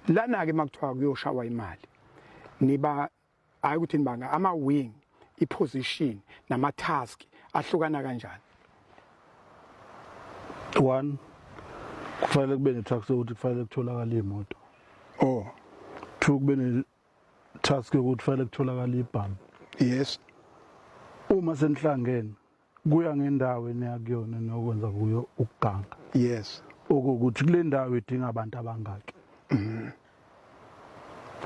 lana ke makuthiwa kuyoshawa imali niba hayi ukuthi nibanga ama wing i position nama task ahlukana kanjani one kufanele kube ne task ukuthi kufanele kutholakala imoto oh two kube ne task ukuthi kufanele kutholakala ibhamu yes uma senihlangene kuya ngendawo eneya kuyona nokwenza kuyo ukuganga yes okukuthi kule ndawo idinga abantu abangaki mhm.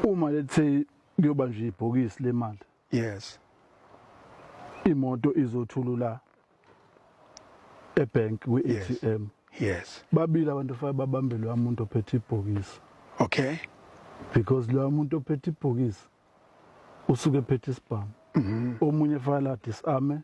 uma let's say kuyoba nje ibhokisi lemali yes imoto izothulula ebank kwi-ATM yes babili abantu fa babambelwe umuntu ophethe ibhokisi okay because lo muntu ophethe ibhokisi usuke ephethe isibhamu mhm. omunye file adisame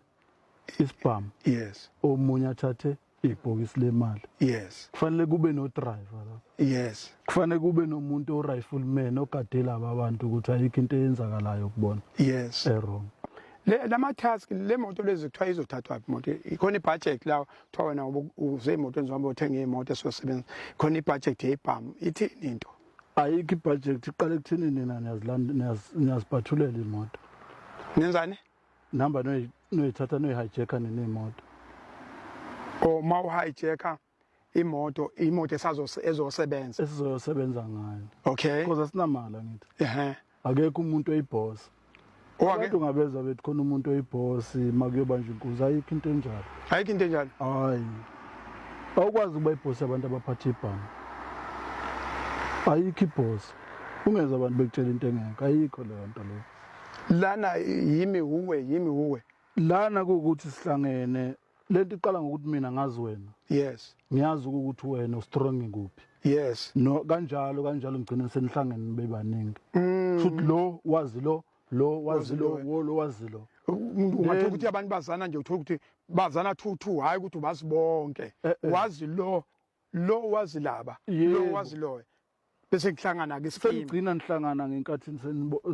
isibhamu yes omunye athathe ibhokisi lemali yes kufanele kube no driver la yes kufanele kube nomuntu o rifleman ogade laba abantu ukuthi ayikho into eyenzakalayo kubona yes errong le lama task le moto lezi kuthiwa izothathwa phi moto ikhona ibudget la kuthiwa wena uze emotweni zihamba uthenge imoto esosebenza khona ibudget yebhamu ithini into ayikho ibudget iqale kuthini nina niyazibhathulela imoto nenzani nihamba noyithatha noyi-hijacka nini imoto or oh, ma u-hijacka imoto imoto esazosebenza esizoyosebenza ngayo okay because asinamali angithi ehe akekho umuntu oyibhosa abantu ngabeza bethi khona umuntu oyibhosi makuyobanja inkunzi ayikho into enjalo ayikho into enjalo hayi awukwazi ukuba ibhosi abantu abaphatha ibhanga ayikho ibhosi ungenza abantu bekutshela into engekho ayikho leyo nto leyo lana yimi wuwe yimi wuwe lana kuwukuthi sihlangene lento iqala ngokuthi mina ngazi wena yes ngiyazi ukuthi wena ustrong kuphi yes no kanjalo kanjalo ngigcine senihlangene bebaningi mm. futhi lo wazi lo lo wazi lo wo lo wazi lo umuntu ungathola ukuthi abantu bazana nje uthola ukuthi bazana two two hayi ukuthi ubasibonke eh, eh. wazi lo lo wazi laba lo wazi loyo bese kuhlangana ke isikimu senigcina nihlangana ngenkathi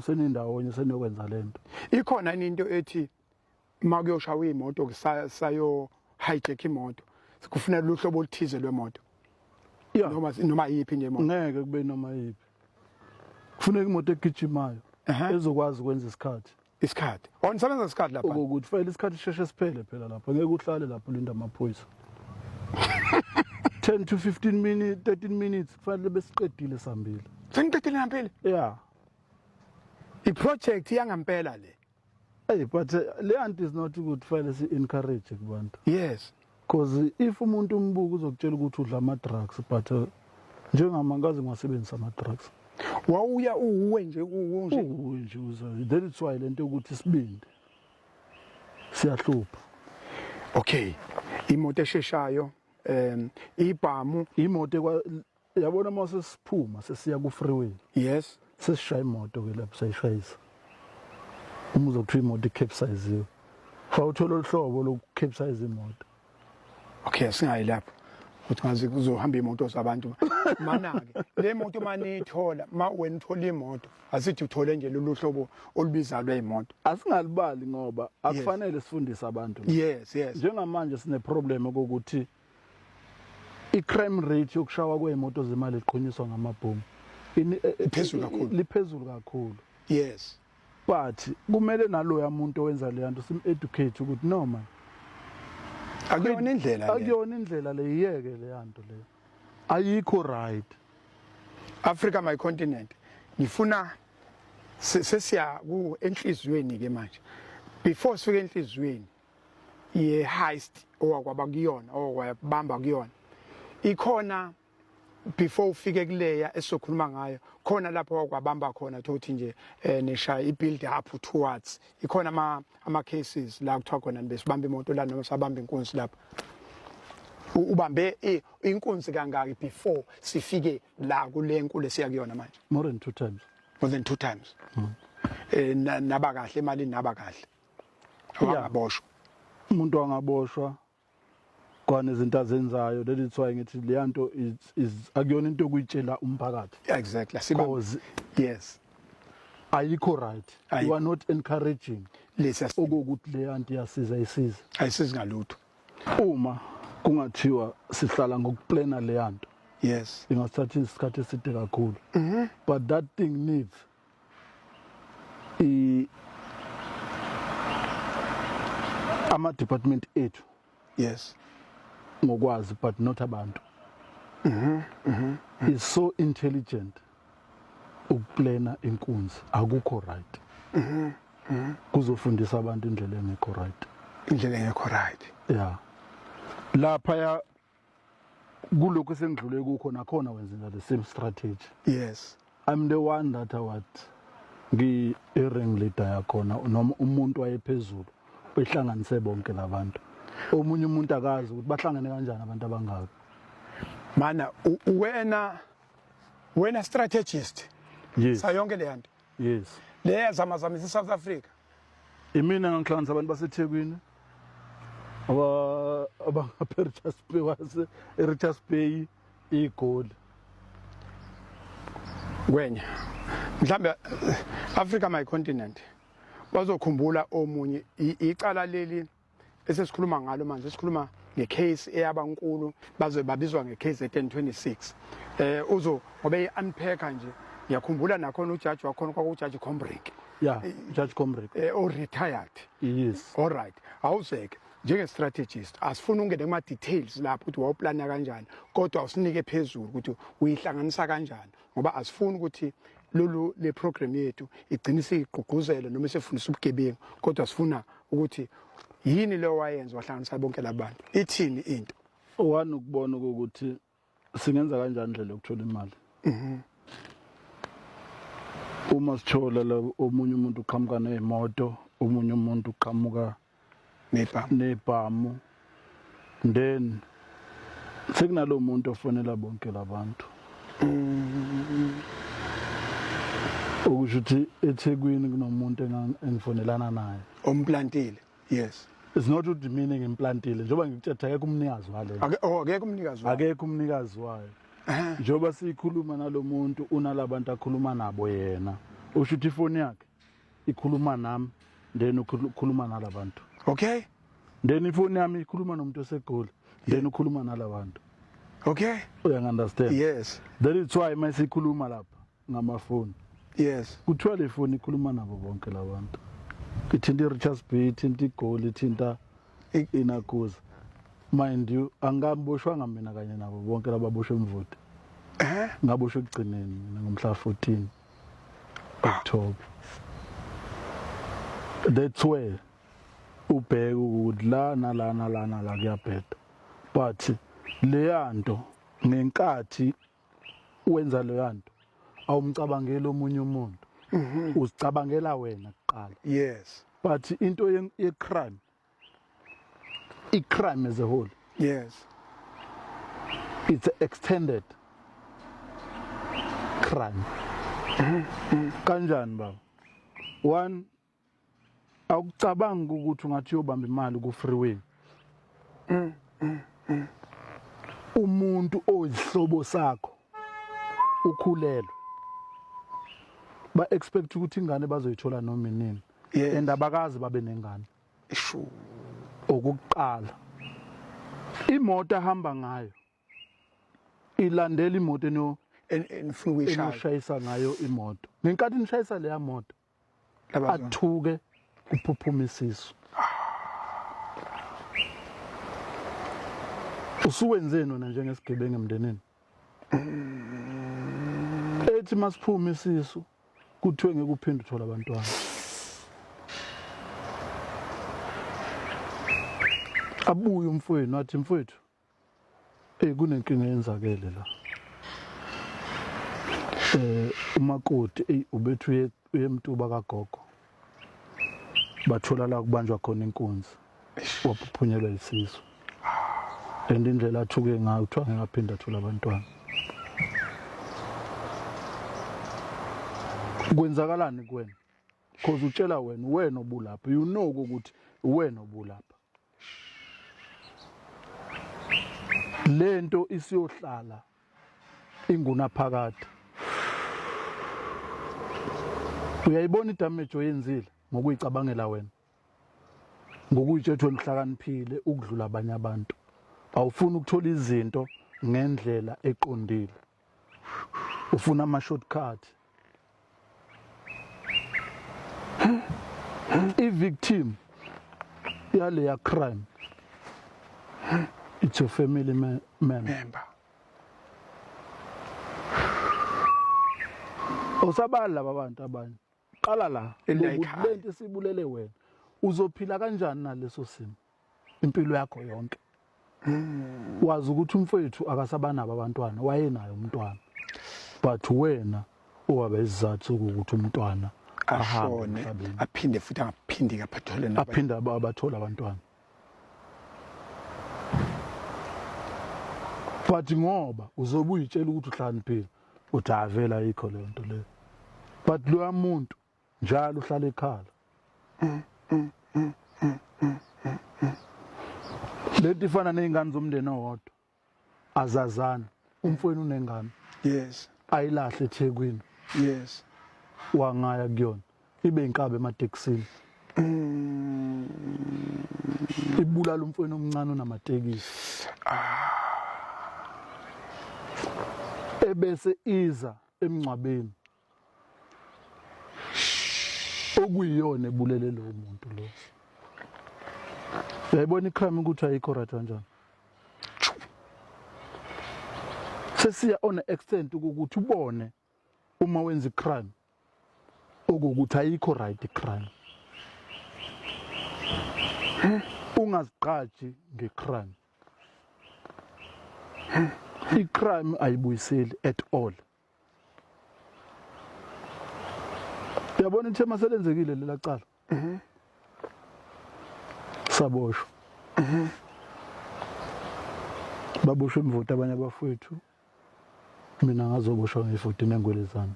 senindawonye seniyokwenza lento ikhona into ethi uma kuyoshawa imoto kusayo hijack imoto kufuneka luhlobo oluthize lwemoto noma noma yipi nje imoto ngeke kube noma yipi kufuneka imoto egijimayo ezokwazi ukwenza isikhathi isikhathi or nisebenza isikhathi lapha ukuthi fayile isikhathi sisheshe siphele phela lapha ngeke uhlale lapha ulinda amaphoyisa 10 to 15 minutes 13 minutes kufanele besiqedile sambile seniqedile ngempela yeah i project yangempela le hey but uh, le anti is not good file si encourage kubantu yes Cause if umuntu umbuka uzokutshela ukuthi udla ama drugs but uh, njengama ngaze ngiwasebenzisa ama drugs. Wawuya uwe nje uwe nje. Uwe nje uza. That is why lento ukuthi isibindi. Siyahlupha. Okay. Imoto esheshayo um ibhamu imoto Yabona uma sesiphuma sesiya ku freeway. Yes. Sesishaya imoto ke lapho sayishayisa. Uma uzothiwa imoto ikepsize. Fa uthola oluhlobo lokukepsize imoto. Okay, singayi lapho. Ukuthi ngaze kuzohamba imoto zabantu. Mana ke le moto manithola ma wena uthola imoto asithi uthole nje lolu hlobo olubizayo lweimoto. Asingalibali ngoba akufanele sifundise abantu. Yes, yes. Njengamanje sine problem ukuthi I-crime rate yokushawa kwey'moto zemali eqhunyiswa ngamabhomu ini- eh, eh, Iphezulu kakhulu. liphezulu kakhulu yes but kumele naloya muntu owenza leya nto sim-educate ukuthi no man akuyona indlela le akuyona indlela le yiyeke leya nto leyo ayikho right africa my continent ngifuna se- sesiya ku enhliziyweni ke manje before sifike enhliziyweni ye-heist owakwaba kuyona owakwabamba kuyona ikhona before ufike kuleya esizokhuluma ngayo khona lapho wakwabamba khona thothi nje eh, nishaya i-build up towards ikhona ama-cases la kuthiwa khona besibamba imoto la noma sabamba inkunzi lapho ubambe eh, inkunzi kangaki before sifike la kule nkulu esiya kuyona manje more than two times more than two times hmm. eh naba kahle imali naba kahle wangaboshwa umuntu wangaboshwa kwana izinto azenzayo leli thiwa ngithi leya nto akuyona into yokuyitshela umphakathi exactly siba yes ayikho right Ayi. you are not encouraging lesa okuwukuthi le anti yasiza isiza ayisizi ngalutho uma kungathiwa sihlala ngokuplana le yanto yes ingasithatha isikhathi eside kakhulu mhm. but that thing needs i ama department ethu yes ngokwazi but not abantu mhm mhm is so intelligent ukuplana inkunzi akukho right mhm mhm kuzofundisa abantu indlela engekho right indlela engekho right yeah lapha ya kulokhu esengidlule kukho nakhona wenzela the same strategy yes i'm the one that what ngi-ring leader yakhona noma umuntu wayephezulu behlanganise bonke labantu omunye umuntu akazi ukuthi bahlangene kanjani abantu abangaka mana wena wena strategist yes sayonke le yanto yes le yazamazamisa iSouth Africa imina ngangihlanganisa abantu baseThekwini aba abangaPerchas Bay wase eRichards Bay igoli kwenya mhlambe Africa my continent bazokhumbula omunye icala leli esesikhuluma ngalo manje sikhuluma ngecase eyaba nkulu baze babizwa ngecase ye-1026 eh uzo ngoba i-unpacker nje ngiyakhumbula nakhona ujaji wakhona kwakujaji combrick ya eh, jaji combrick eh, o-retired yes all right awuzeke njenge-strategist asifuni ungene kuma-details lapho ukuthi wawuplana kanjani kodwa usinike phezulu ukuthi uyihlanganisa kanjani ngoba asifuni ukuthi lolu le program yethu igcine sigqugquzele noma sifundisa ubugebengu kodwa sifuna ukuthi yini leyo wayenza wahlanganisa bonke labantu ithini into owani ukubona ukuthi singenza kanjani indlela yokuthola imali mhm. uma sithola la omunye umuntu uqhamuka nemoto omunye umuntu uqhamuka nebhamu nebhamu then sekunalo muntu ofonela bonke labantu mm. okusho ukuthi eThekwini kunomuntu engifonelana naye omplantile yes is not to demean ngimplantile njengoba ngikuthetha akekho umnikazi wale oh akekho umnikazi wayo akekho umnikazi wayo njengoba siyikhuluma nalomuntu unalabantu akhuluma nabo yena usho ukuthi ifoni yakhe ikhuluma nami then ukhuluma nalabantu okay then ifoni yami ikhuluma nomuntu osegoli then ukhuluma nalabantu okay uyangunderstand yes that is why masikhuluma lapha ngamafoni yes kuthiwa le foni ikhuluma nabo bonke labantu ithinta i-richards bay ithinta igoli ithinta inakuza mind you angikamboshwanga mina kanye nabo bonke lababoshwe mvoti eh? ngaboshwe ekugcineni mina ngomhla 14 Top. That's where ubheke ukuthi la nala nala nala kuyabheda. But leya nto ngenkathi wenza leya nto awumcabangeli omunye umuntu. Mhm. Uzicabangela wena kuqala. Yes. But into ye-crime i crime as a whole yes it's extended crime kanjani baba one awucabanga ukuthi ungathi uyobamba imali ku freeway umuntu oyihlobo sakho ukhulelwe ba expect ukuthi ingane bazoyithola noma inini yeah. and abakazi babe nengane ishu okuqala imoto ahamba ngayo ilandela imoto eno enifuna ukuyishayisa ngayo imoto ngenkathi nishayisa leya moto athuke kuphuphuma isisu usuwenzeni wena njengesigebengu emndenini ethi masiphume isisu kuthiwe ngeke uphinde uthola abantwana abuye umfowenu athi mfowethu eh kunenkinga yenzakele la eh umakoti eh ubethu uyemtuba kagogo bathola la kubanjwa khona inkunzi waphuphunyelwa isisu and indlela athuke ngayo kuthiwa ngeke aphinde athole abantwana kwenzakalani kuwena because utshela wena uwena obulapha you know ukuthi uwena obulapha lento isiyohlala ingunaphakade uyayibona idamage oyenzile ngokuyicabangela wena ngokuyitshethwa wena uhlakaniphile ukudlula abanye abantu awufuni ukuthola izinto ngendlela eqondile ufuna ama shortcut i victim yale ya crime it's your family me member osabali laba bantu abanye qala la lento sibulele wena uzophila kanjani naleso simo impilo yakho yonke wazi ukuthi umfowethu akasabanabo abantwana wayenaye umntwana but wena owaba isizathu sokuthi umntwana ashone aphinde futhi angaphindi kaphethole nabo aphinde abathola abantwana but ngoba uzobe uyitshela ukuthi uhlaniphile uthi avela ikho le nto leyo but loya muntu njalo uhlala ekhala leti ifana nezingane zomndeni owodwa azazana umfweni unengane yes ayilahle eThekwini yes wangaya kuyona ibe inkabe ematekisini mm. ibulala umfweni omncane onamatekisi ah. ebese iza emngcwabeni okuyiyona ebulele lowo muntu lo yayibona icrime ukuthi ayikho right kanjani sesiya on a extent ukuthi ubone uma wenza icrime okukuthi ayikho right icrime ungazigqaji ngecrime icrime ayibuyiseli at all yabona ithema selenzekile lela cala saboshwa baboshwe imvoti abanye abafowethu mina ngazoboshwa ngefoti nengwele zami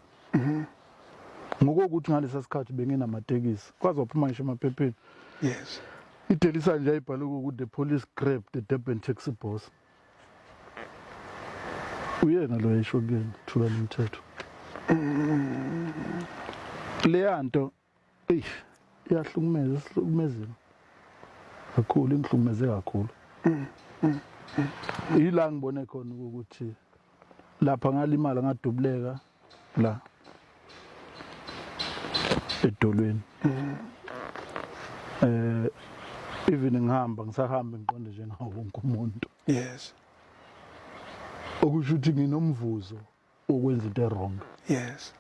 ngokokuthi ngalesa sikhathi benginamatekisi kwaze waphuma ngisho emaphepheni yes idelisa nje ayibhale ukuthi the police grabbed the durban taxi boss uyena lo yesho kuyena thula lomthetho leya nto eyi iyahlukumeza sihlukumezile kakhulu ingihlukumeze kakhulu yila ngibone khona ukuthi lapha ngalimala ngadubuleka la edolweni eh even ngihamba ngisahamba ngiqonde njengawo wonke umuntu yes okusho ukuthi nginomvuzo okwenza into wrong yes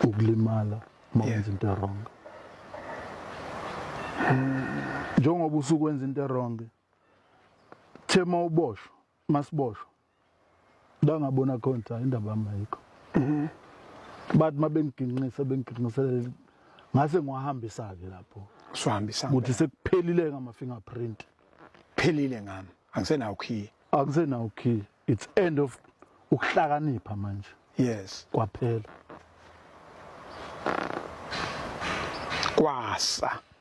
ukulimala mawenza into wrong njengoba usukwenza into wrong thema uboshwa masiboshwa bangabona khona cha indaba yami ayikho mhm. bathi uma bengiginqisa bengiginqiselela ngase ngiwahambisa-ke lapho siwahambisa ukuthi sekuphelile ngama-fingerprint phelile ngami angisenawo khiye angisenawo khiye it's end of ukuhlakanipha manje yes kwaphela kwasa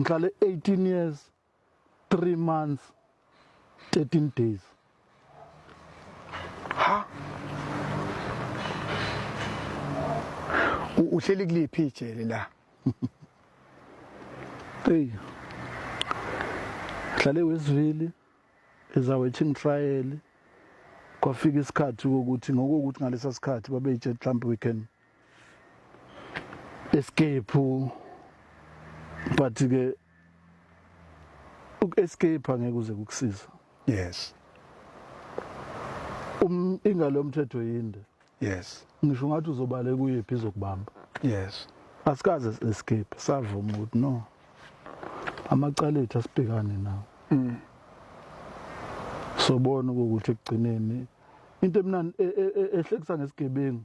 ngihlale 18 years 3 months 13 days ha uhleli kuliphi ijele la hey ngihlale wesivili ezawethingi trial kwafika isikhathi ukuthi ngokuthi ngalesa sikhathi babeyijet mhlawumbe we can escape but ke uku-escape angeke uze kukusiza yes um ingalo yomthetho yinde yes ngisho ngathi uzobale kuyephi izokubamba yes asikaze escape savuma ukuthi no amacala ethu asibhekane nawo mm. sobona ukuthi ekugcineni into emnandi e, e, e, ehlekisa ngesigebengu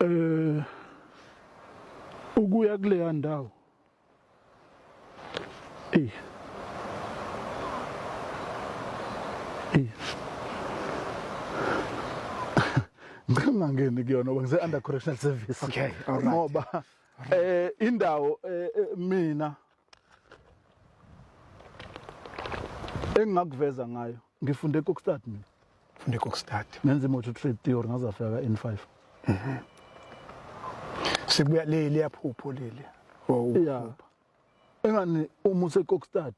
eh ukuya kuleya ndawo eh eh ngingangeni kuyona ngoba ngise under correctional service okay all right ngoba eh indawo eh, eh, mina engingakuveza ngayo ngifunde ekokstad mina funde kokstad nenza imoto trade theory ngazafika ka-n5 mhm. sekubuya leli yaphupho leli ya engani uma usekokstad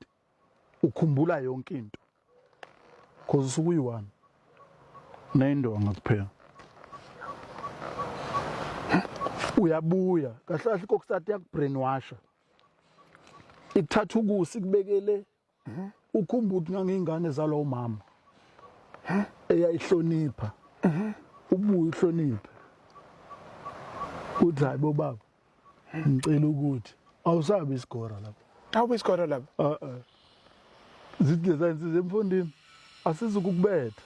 ukhumbula yonke into cause usuke uyi-one neyindonga kuphela uyabuya kahle kahle kokstad yakubrainwasha ikuthatha ukusa ikubekele ukhumba ukuthi ngangiyingane zalowo mama eyayihlonipha ubuye uhloniphe uthi hayi bobaba ngicela ukuthi awusabi isigora lapho awubi isigora lapho uh-uh. zithi leza insizwa emfundini asizukukubetha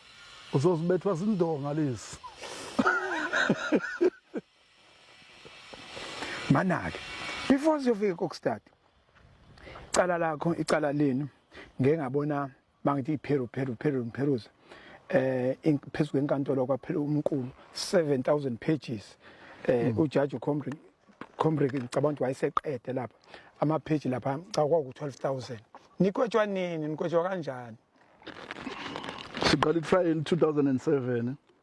uzozibethwa sindonga lesi manake before siyofika kokustadi icala lakho icala lenu ngeke ngabona bangithi iPeru Peru Peru Perus eh phezulu enkantolo kwaphela umqulu 7000 pages eh mm. ujaji uComrade Comrade ngicabanga ukuthi wayeseqede lapha ama page lapha cha kwaku 12000 nikhotshwa nini nikhotshwa kanjani siqala itrial 2007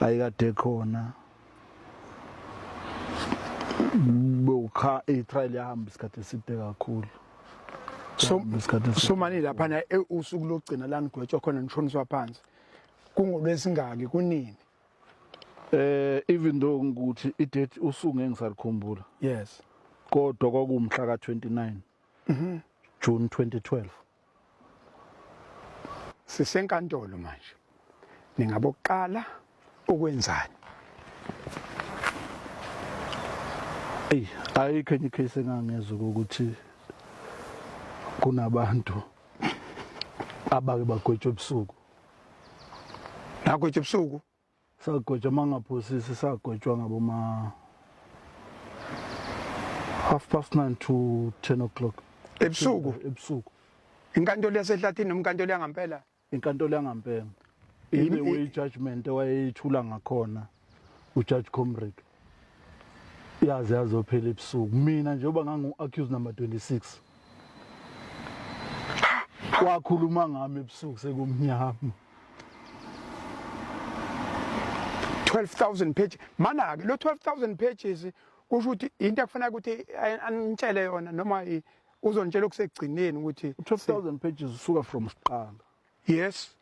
ayikade khona bokha i-trial yahamba isikhathi eside kakhulu somani laphana e, usuku lokugcina la nigwetshwa khona nishoniswa phansi kungolwesingaki kunini eh even though ngikuthi i-date usuku ngeke ngisakukhumbula yes kodwa kwakuwumhla ka-29 mm -hmm. June 2012 sisenkantolo manje ningabokuqala ukwenzani eyi ayikho enye icase engangezwa ukuthi kunabantu abake bagwetshwa ebusuku nagwetshwa ebusuku sagojwa mangaphosisi sagojwa ngaboma half past 9 to 10 o'clock ebusuku ebusuku inkantolo yasehlathini noma inkantolo yangampela inkantolo yangampela ibe we judgment ewayeyithula ngakhona ujudge comrade yaze yazophela ebusuku mina njengoba ngangu-accuse number 26 wakhuluma ngami ebusuku sekumnyama 12000 pages mana-ke lo 12000 pages kusho ukuthi into ekufanele ukuthi anitshele yona noma uzontshela okusekugcineni ukuthi 12000 pages usuka from siqala yes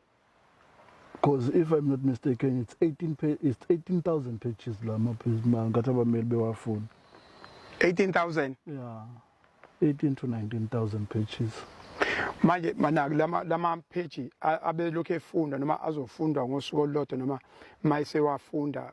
because if i'm not mistaken it's 18 it's 18000 pages la maphisma ngathi abameli bewafuna 18000 yeah 18 to 19000 pages manje manaki lama lama page abelokhu efunda noma azofundwa ngosuku olulodwa noma mayisewafunda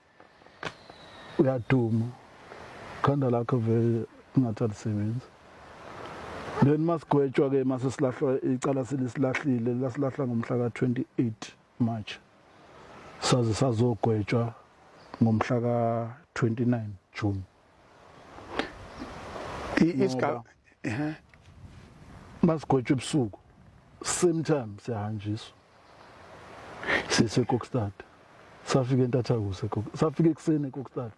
uyaduma khanda lakho vele ungathi alisebenzi then masigwetshwa ke mase silahlwa icala selisilahlile lasilahla ngomhla ka-28 march saze sazogwetshwa ngomhla ka-29 june isigaba ehe basigwetshwe ebusuku same time siyahanjiswa sise kokstad safika entathakusa safika ekuseni ekokstad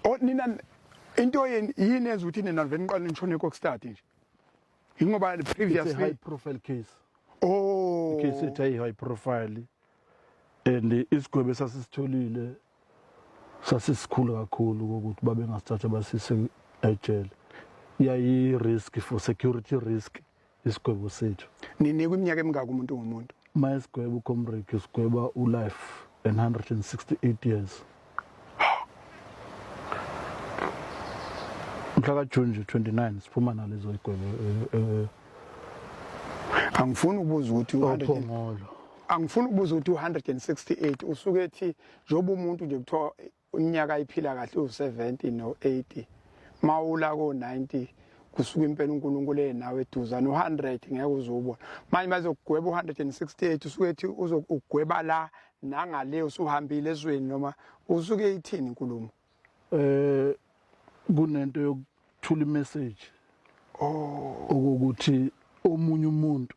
o nina into yini yini enza ukuthi nina vele niqale nishone kokstad nje ingoba previously high profile case oh case ethe high profile and isigwebo sasisitholile sasisikhulu kakhulu kokuthi babengasithatha basise ejele yayi-risk for security risk isigwebo sethu ninikwa iminyaka emingaka umuntu ngomuntu ma isigwebo ucomrek sigweba ulife and 168 years mhla kajuni nje 29 siphuma nalezo igwebo eh, eh, angifuni ukubuza ukuthi uphongolo angifuni ukubuza ukuthi u-168 usuke ethi njengoba umuntu nje kuthiwa unyaka ayiphila kahle uwu-70 no-80 mawula ko-90 kusuka impela uNkulunkulu enawe eduza no 100 ngeke uzubona manje bazokugweba u 168 usuke ethi uzokugweba la nangale usuhambile ezweni noma usuke ithini inkulumo eh kunento yokuthula imessage oh ukuthi omunye umuntu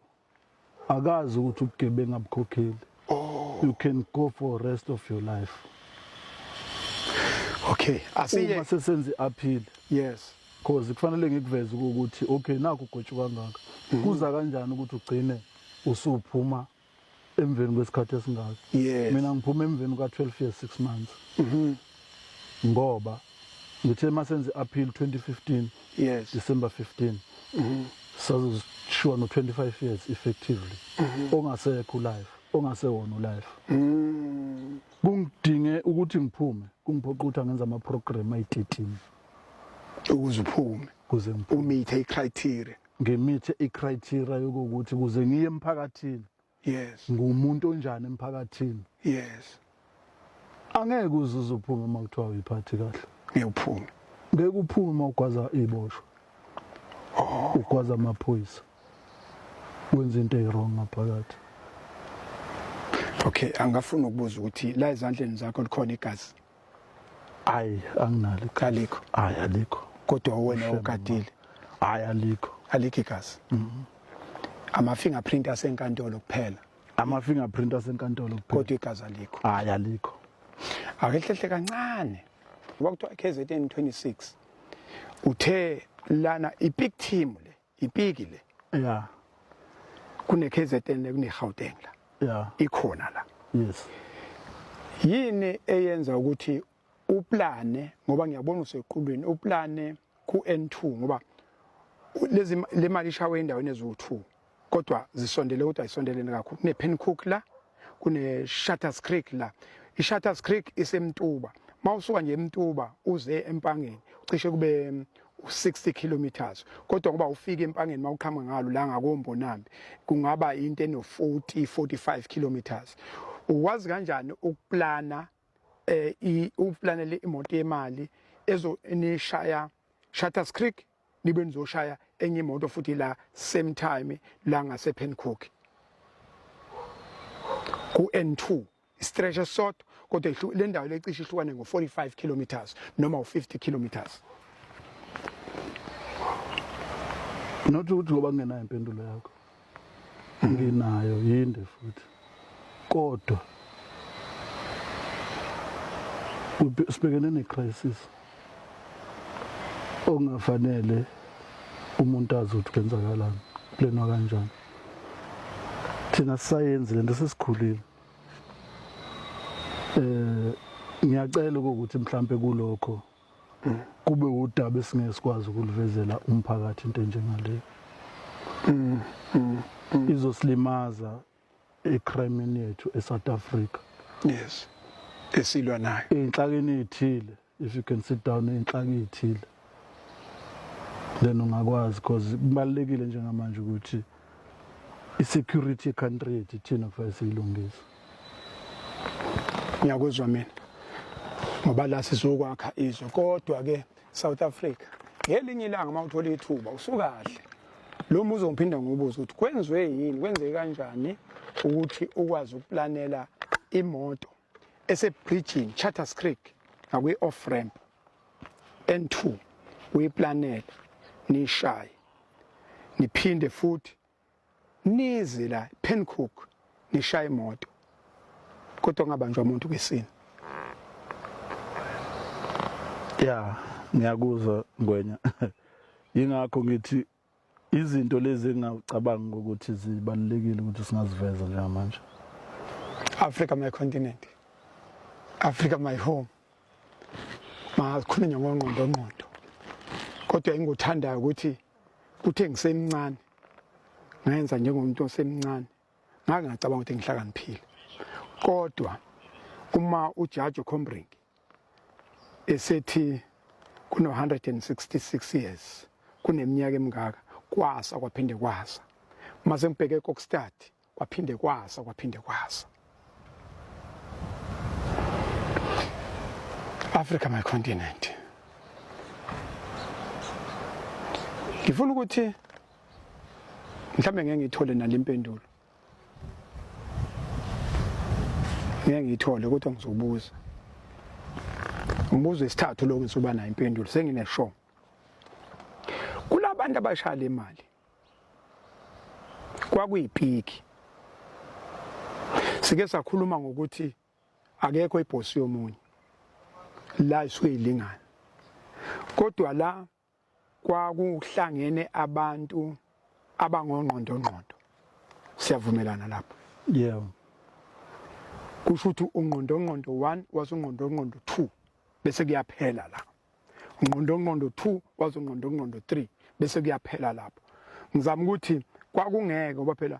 akazi ukuthi ubugebengu abukhokheli oh you can go for rest of your life okay asiye uma sesenze appeal yes cause kufanele ngikuveze ukuthi okay naku ugotshu kangaka mm-hmm. kuza kanjani ukuthi ugcine usuphuma emveni kwesikhathi esingaka yes. mina ngiphuma emveni kwa-12 years 6 months mm -hmm. ngoba ngithe uma senze appeal 2015 yes. december 15 mm -hmm. sazoshiwa no-25 years effectively mm -hmm. ongasekho ulife ongasewona ulife mm. kungidinge ukuthi ngiphume kungiphoqa ukuthi angenza amaprogram ayi-13 ukuze uphume kuze umithe icriteria ngimithe icriteria yokuthi kuze ngiye emphakathini yes ngumuntu onjani emphakathini yes angeke uzuze uphume uma kuthiwa uyiphathi kahle ngiyophume ngeke uphume uma ugwaza iboshwa oh. ugwaza amaphoyisa wenza into ewrong ngaphakathi okay angafuna ukubuza ukuthi la ezandleni zakho likhona igazi Hayi anginalo iqiniso. Alikho. Hayi alikho. Kodwa wena Ushem, ogadile Hayi alikho. alikho igazi. Ama fingerprint asenkantolo kuphela Ama fingerprint asenkantolo kuphela. kodwa igazi alikho. Hayi alikho. Awehlehle kancane. Ngoba kuthiwa KZN 26 uthe lana i big team le Ipiki le. Yeah. Kune KZN ne kune Gauteng la. Yeah. Ikhona la. Yes. Yini eyenza ukuthi uplane ngoba ngiyabona usequlwini uplane ku N2 ngoba lezi le mali ishawe endaweni eziwu2 kodwa zisondele kodwa isondelene kakhulu ne Pencook la kune Shutters Creek la iShutters Creek isemtuba mawusuka nje emtuba uze empangeni cishe kube 60 um, kilometers kodwa ngoba ufika empangeni mawuqhamuka ngalo la ngakombonambi kungaba into eno 40 45 kilometers uwazi kanjani ukuplana eh uplanele imoto yemali ezo enishaya Shutters Creek nibe nizoshaya enye imoto futhi la same time la ngase Pencook ku N2 stretch esodwa kodwa le ndawo lecishe ihlukane ngo 45 kilometers noma u 50 kilometers not ukuthi ngoba ngenayo impendulo yakho nginayo yinde futhi kodwa sibhekene ne-crisis okungafanele umuntu azi ukuthi kwenzakalani kuplenwa kanjani thina sisayenzi le nto sesikhulile um ngiyacela ukuthi mhlawumpe kulokho kube udaba esingeke sikwazi ukulivezela umphakathi into enjengaleyo mm, mm, mm. izosilimaza ecrimen yethu eSouth Africa yes esilwa nayo inhlakeni ethile if you can sit down inhlakeni ethile then ungakwazi because kubalekile njengamanje ukuthi i-security ye-country yethu ithina kufanele siyilungise ngiyakuzwa mina ngoba la sizokwakha izwe kodwa-ke south africa ngelinye ilanga uma uthola ithuba usukahle lo muzi ongiphinda ngobuza ukuthi kwenziwe yini kwenzeke kanjani ukuthi ukwazi ukuplanela imoto esebridgini Charters Creek ngakwi-off ramp N2 uyiplanele nishaye niphinde futhi nize la Pencook nishaye imoto kodwa ungabanjwa umuntu kwisini ya ngiyakuzwa ngwenya yingakho ngithi Izinto lezi engingacabanga ukuthi zibalulekile ukuthi singaziveza njengamanje. Africa my continent. Africa my home. Makhulunywa ngongqondo ngqondo. Kodwa engikuthandayo ukuthi uthe ngisemncane ngenza njengomuntu osemncane ngake ngacabanga ukuthi ngihlakaniphile kodwa uma ujaji ocombring esethi kuno-166 years kuneminyaka emingaka kwasa kwaphinde kwasa uma sengibheke kokstad kwaphinde kwasa kwaphinde kwasa africa my continent ngifuna ukuthi mhlawumbe ngeke ngiyithole nale impendulo ngeke ngiyithole kodwa ngizobuza umbuzo isithathu lo ngisuba nayo impendulo sengineshow kulabantu abashaya le mali kwakuyipiki sike sakhuluma ngokuthi akekho ibhosi yomunye la isuke ilingana kodwa la kwakuhlangene abantu abangongqondongqondo siyavumelana lapho yebo kusho ukuthi ungqondongqondo 1 wasungqondongqondo 2 bese kuyaphela la ungqondongqondo 2 wasungqondongqondo 3 bese kuyaphela lapho ngizama ukuthi kwakungeke ngoba phela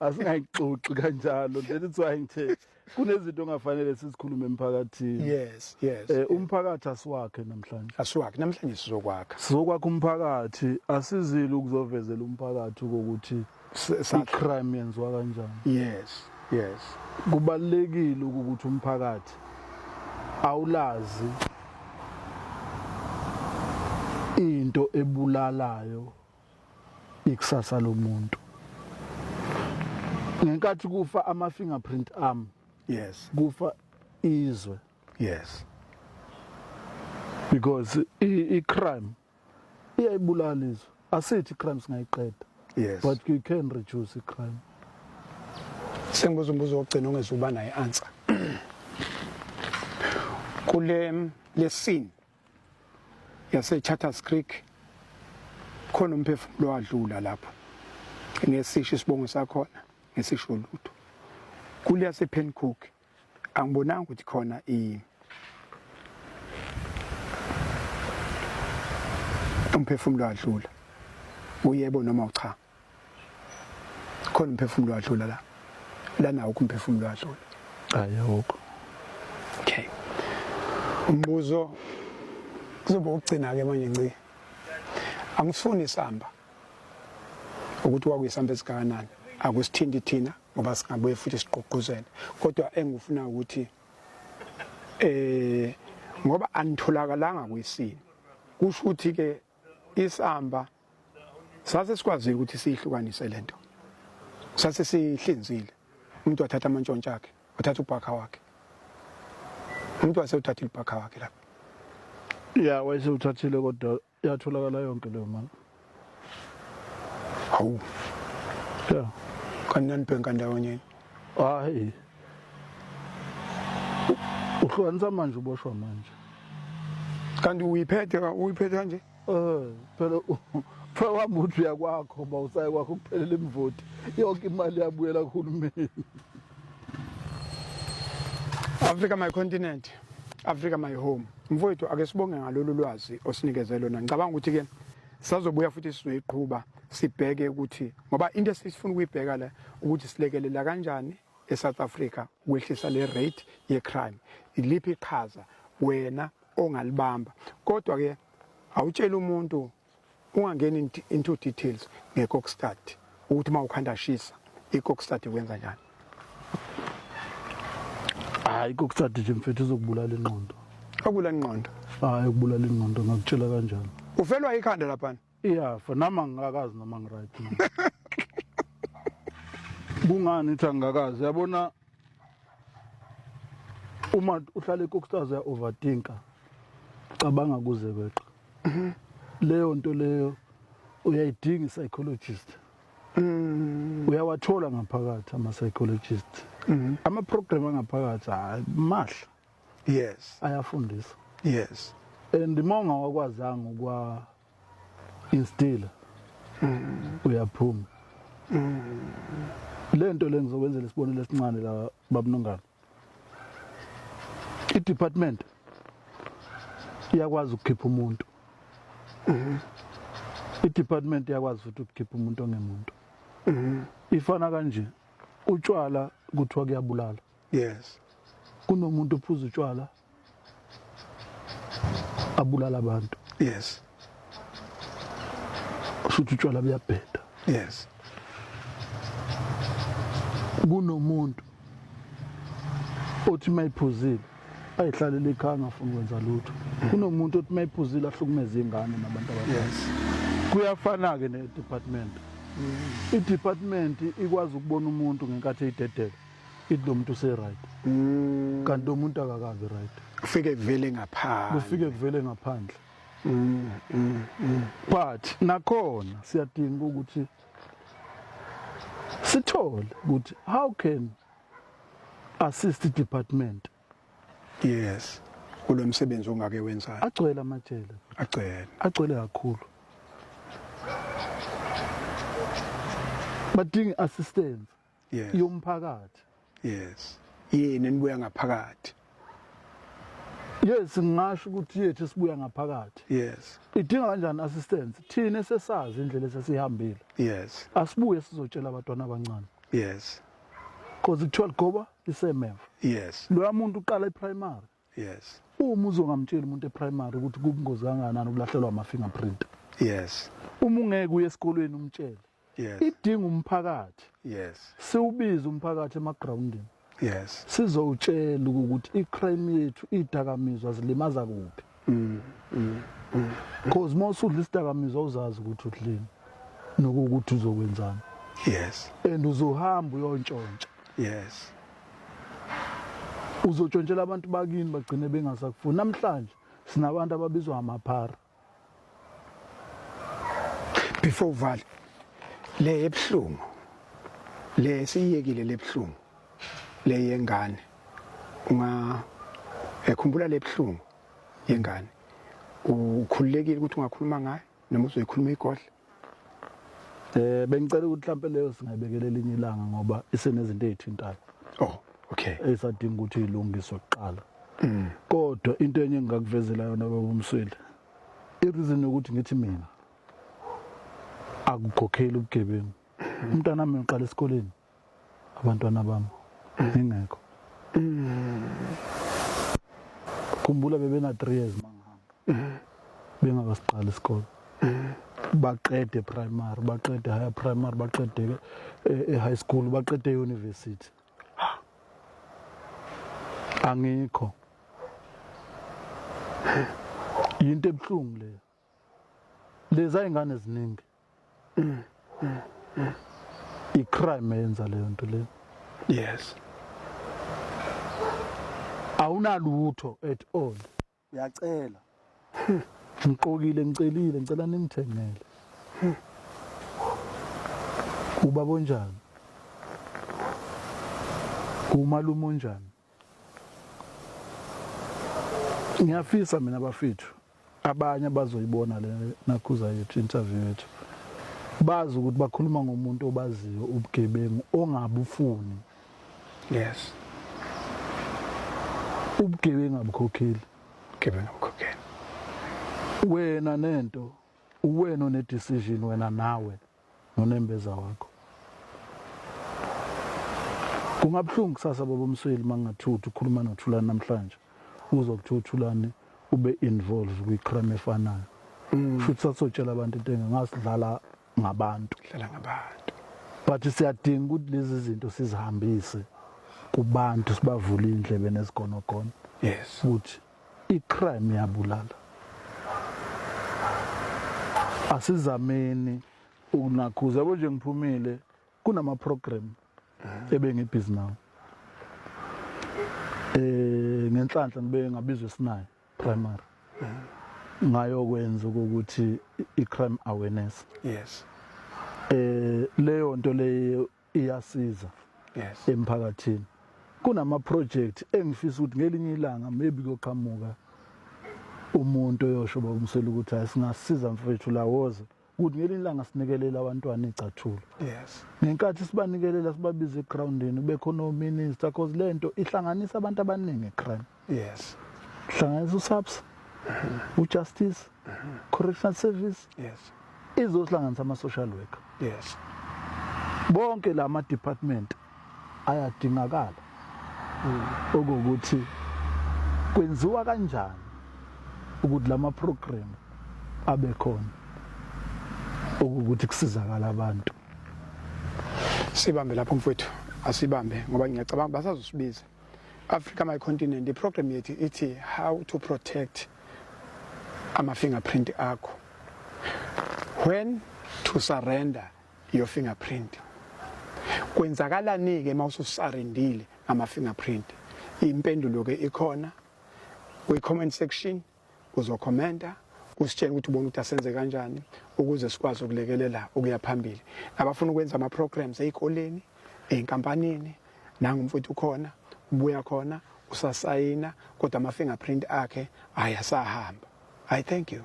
asingayixoxi kanjalo that is why ngithe kunezinto ongafanele sizikhulume emphakathini yes yes eh, umphakathi asiwakhe namhlanje asiwakhe namhlanje sizokwakha sizokwakha umphakathi asizile ukuzovezela umphakathi ukuthi i-crime yenziwa kanjani yes yes kubalekile ukuthi umphakathi awulazi into ebulalayo ikusasa lomuntu ngenkathi kufa ama fingerprint arm yes kufa izwe yes because i crime iyayibulala izwe asithi crime singayiqeda yes but you can reduce i crime sengibuza umbuzo wokugcina ongezuba naye answer kule lesini yaseCharters Creek khona umphefumulo wadlula lapho ngesisho isibongo sakhona ngesisho lutho kule yasePencook angibonanga ukuthi khona i umphefumulo wadlula uyebo noma uchamu khona umphefumulo wadlula la lana awukho umphefumulo wadlula hayi awukho okay umbuzo kuzoba ukugcina ke manje nci angifuni isamba ukuthi wakuyisamba esikanani akusithinti thina ngoba singabuye futhi siqoquzele kodwa engifuna ukuthi eh ngoba anitholakalanga kwisini kusho ukuthi ke isamba sase sikwazile ukuthi siyihlukanise lento sase sihlinzile umuntu wathatha amantshontsha akhe wathatha ubhakha wakhe umuntu wase uthathile ubhakha wakhe lapho ya wayese uthathile kodwa yatholakala yonke leyo mali hawu ya kanti nanibhenka ndawonye hayi uhlukanisa manje uboshwa manje kanti uyiphethe uyiphethe kanje Eh, phela kuthiwa wami uthi uyakwakho uba usaye kwakho kuphelela imvoti yonke imali yabuyela kuhulumeni africa my continent africa my home mfowethu ake sibonge ngalolu lwazi osinikeze lona ngicabanga ukuthi-ke sazobuya futhi sizoyiqhuba sibheke ukuthi ngoba into esifuna ukuyibheka la ukuthi silekelela kanjani eSouth Africa ukwehlisa le rate yecrime iliphi iqhaza wena ongalibamba kodwa ke awutshela umuntu ungangeni into details ngekokstad ukuthi uma ukhanda shisa ikokstad ikwenza njani hayi ikokstad nje mfethu izokubulala ingqondo akubulala ingqondo hayi ukubulala ingqondo ngakutshela kanjani ufelwa ikhanda laphana iyafa nami angikakazi noma ngiright kungani ithi angikakazi yabona uma uhlale kokstars ya overthinker cabanga kuze kweqa leyo nto leyo uyayidinga psychologist mm. uyawathola ngaphakathi ama psychologist mm. ama program angaphakathi hayi mahla yes ayafundisa yes and monga wakwazanga ukwa instila mm. uyaphuma mm. lento le ngizokwenzela isibonelo esincane la babunongana i department iyakwazi ukukhipha umuntu mm-hmm. i department iyakwazi futhi ukukhipha umuntu ongemuntu mm-hmm. ifana kanje utshwala kuthiwa kuyabulala yes kunomuntu ophuza utshwala abulala abantu yes ushuthi utshwala buyabheda yes kunomuntu othi mayiphuzile ayihlalele ekhaya angafuni kwenza lutho kunomuntu othi mayiphuzile ahlukumeza ingane nabantu abadala yes kuyafana ke ne department mm. i department ikwazi ukubona umuntu ngenkathi eyidedela ithi lo muntu useright mm. kanti lo muntu akakabi right kufike kuvele ngaphandle kufike kuvele ngaphandle mm, mm, mm. but nakhona siyadinga ukuthi sithole ukuthi how can assist department yes kulo msebenzi ongake wenzayo agcwele amajele agcwele agcwele kakhulu badinga assistance yes. yomphakathi yes yini nibuya ngaphakathi yes ngingasho ukuthi yethu sibuya ngaphakathi yes idinga kanjani assistance thina sesazi indlela esesihambile yes asibuye sizotshela abantwana abancane yes because kuthiwa ligoba isemeva yes loya muntu uqala iprimary yes uma uzongamtsheli umuntu eprimary ukuthi kubungozi kangakanani ukulahlelwa ama-fingerprint yes uma ungeke uye esikolweni umtshele yes idinga umphakathi yes siwubize umphakathi emagrawundini yes sizowutshela ukuthi i-crime yethu idakamizwa zilimaza kuphi mm, mm, mm, because uma usudla isidakamizwa uzazi ukuthi udlini nokuwukuthi uzokwenzani yes and uzohamba uyontshontsha yes uzotshontshela abantu bakini bagcine bengasakufuni namhlanje sinabantu ababizwa ngamaphara before uvale le ebuhlungu le siyiyekile lebuhlungu le yengane unga ekhumbula lebuhlungu yengane ukhululekile ukuthi ungakhuluma ngayo noma uzoyikhuluma igodla Eh bengicela ukuthi mhlampe leyo singayibekela elinye ilanga ngoba isenezinto ezithintayo. Oh, okay. Esadinga ukuthi ilungiswe kuqala. Mm. Kodwa into enye engingakuvezela yona baba umsweli. Ireason ukuthi ngithi mina akukhokheli ubugebengu. Mm. Umntana wami uqala esikoleni. abantwana bami ngingekho khumbula bebena 3 years mangihamba bengakasiqali isikole baqede primary baqede higher primary baqede eh, eh, high school baqede university angikho yinto ebuhlungu leyo lezi ay'ngane eziningi i-crime eyenza leyo nto leyo yes awunalutho at all uyacela ngiqokile ngicelile ngicela ningithengele ubaba onjani umalume onjani ngiyafisa mina bafethu abanye abazoyibona le nakhuza yethu interview yethu bazi ukuthi bakhuluma ngomuntu obaziyo ubugebengu ongabufuni yes ubugebengu abukhokheli ubugebengu abukhokheli wena nento uwena one decision wena nawe nonembeza wakho kungabuhlungu kusasa baba umsweli mangathiwa uthi ukhuluma nothulani namhlanje uzwa kuthiwa uthulani ube involved kwicrime efanayo mm. futhi sasotshela abantu into engasidlala ngabantu dlala ngabantu but siyadinga ukuthi lezi zinto sizihambise kubantu sibavule indlebe nezigonogono yes ukuthi I-crime yabulala. Asizameni ukunakhuza yabo nje ngiphumile kunama program ebengibhizi nawo. Eh ngenhlanhla ngibe ngabizwe sinayo primary. Ngayokwenza ukuthi i-crime awareness. Yes. Eh leyo nto leyo iyasiza yes. emphakathini kunama-project engifisa ukuthi ngelinye ilanga maybe kuyoqhamuka umuntu oyosho bakumsela ukuthi hayi singasiza mfethu lawoze ukuthi ngelinye ilanga sinikelela abantwana igcathulo yes ngenkathi sibanikelela sibabiza egroundini kube khona ominister cause le nto ihlanganisa abantu abaningi ecrime yes hlanganisa usaps mhm. ujustice mhm. correctional service yes izohlanganisa ama-social worker yes bonke la ma-department ayadingakala mm. okokuthi kwenziwa kanjani ukuthi la ma-program abe khona okukuthi kusizakala abantu sibambe lapho mfowethu asibambe ngoba ngiyacabanga basazosibiza Africa My Continent iprogram yethu ithi how to protect ama fingerprint akho when to surrender your fingerprint kwenzakalani-ke uma ususarendile ngama-fingerprint impendulo-ke ikhona kwi-comment section uzokhomenta usitshele ukuthi ubona ukuthi asenze kanjani ukuze sikwazi ukulekelela ukuya phambili abafuna ukwenza ama-programs ey'koleni ey'nkampanini nangumfowethu ukhona ubuya khona usasayina kodwa ama-fingerprint akhe ayasahamba i thank you